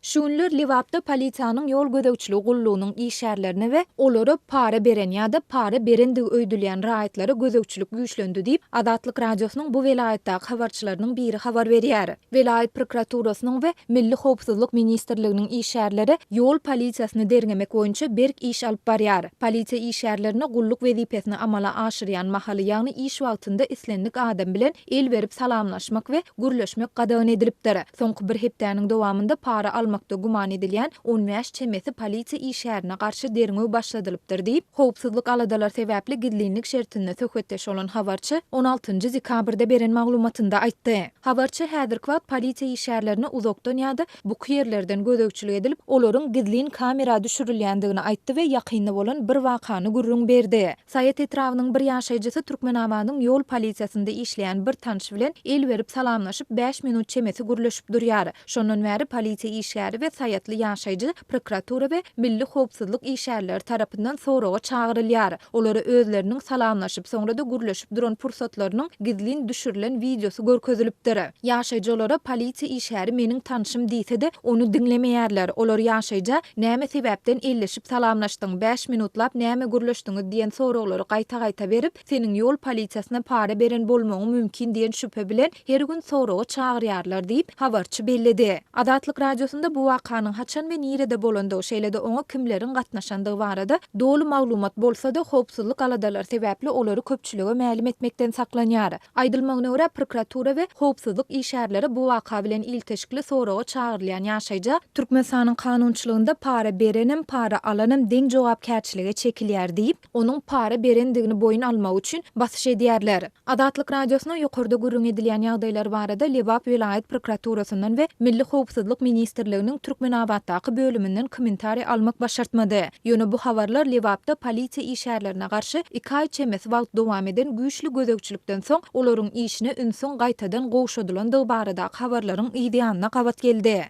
Şu günler Lebapda polisiýanyň ýol gözegçiligi gullugynyň işgärlerine we olara para beren ýa-da para berendigi öýdülýän raýatlara gözegçilik güýçlendi diýip, Azatlyk Radiosynyň bu welaýatdaky habarçylarynyň biri habar berýär. Welaýat prokuraturasynyň we Milli howpsuzlyk ministrliginiň işgärleri ýol polisiýasyny derňemek boýunça berk iş alyp barýar. Polisiýa işgärlerine gulluk wezipesini amala aşyrýan mahaly, ýagny iş wagtynda islendik adam bilen El berip salamlaşmak we gürleşmek gadagan edilipdir. Soňky bir hepdäniň dowamynda para almakda güman edilýän on bäş çemesi polisiýa işgärine garşy derňew başladylypdyr diýip, howpsuzlyk aladalar sebäpli gizlinlik şertinde söhbetdeş bolan habarçy on altynjy dekabrda beren maglumatynda aýtdy. Habarçy häzirki wagt polisiýa işgärlerine uzakdan ýa-da buky ýerlerden gözegçilik edilip, olaryň gizlin kamera düşürilýändigini aýtdy we ýakynda bolan bir wakany gürrüň berdi. Saýat etrabynyň bir ýaşaýjysy Türkmenabadyň ýol polisiýasynda işleýän bir tanşy bilen el berip salamlaşyp, bäş minut çemesi gürleşip durýar. Şondan bäri polisiýa işgäri we saýatly ýaşaýjy prokuratura we milli howpsuzlyk işgärleri tarapyndan soraga çagyrylýar. Olara özleriniň salamlaşyp, soňra-da gürleşip duran pursatlarynyň gizlin düşürilen wideosy görkezilipdir. Ýaşaýjy olara polisiýa işgäri meniň tanşym diýse-de, ony diňlemeýärler. Olar ýaşaýja näme sebäpden elleşip Salamlaşdyň, bäş minutlap näme gürleşdiňiz diýen soraglary gaýta-gaýta berip, seniň ýol polisiýasyna para beren bolmagyň mümkin diýen şübhe bilen her gün soraga çagyrýarlar diýip, habarçy belledi. Azatlyk Radiosynda bu wakanyň haçan we nirede bolandygy, şeýle-de oňa kimleriň gatnaşandygy barada doly maglumat bolsa-da, howpsuzlyk aladalary sebäpli olary köpçülige mälim etmekden saklanýar. Aýdylmagyna görä, prokuratura we howpsuzlyk işgärleri bu waka bilen ilteşikli soraga çagyrylýan ýaşaýja Türkmenistanyň kanunçylygynda para berenem, para alanam deň jogapkärçilige çekilýär diýip, onuň para berendigini boýun almagy üçin basyş edýärler. Azatlyk Radiosyna ýokarda gürrüň edilýän ýagdaýlar barada Lebap welaýat prokuraturasyndan we Milli howpsuzlyk ministrliginiň Türkmenabatdaky bölüminden kommentariý almak başartmady. Ýöne bu habarlar Lebapda polisiýa işgärlerine garşy iki aý çemesi wagt dowam eden güýçli gözegçilikden soň, olaryň işine ünsüň gaýtadan gowşadylandygy baradaky habarlaryň yzýanyna gabat geldi.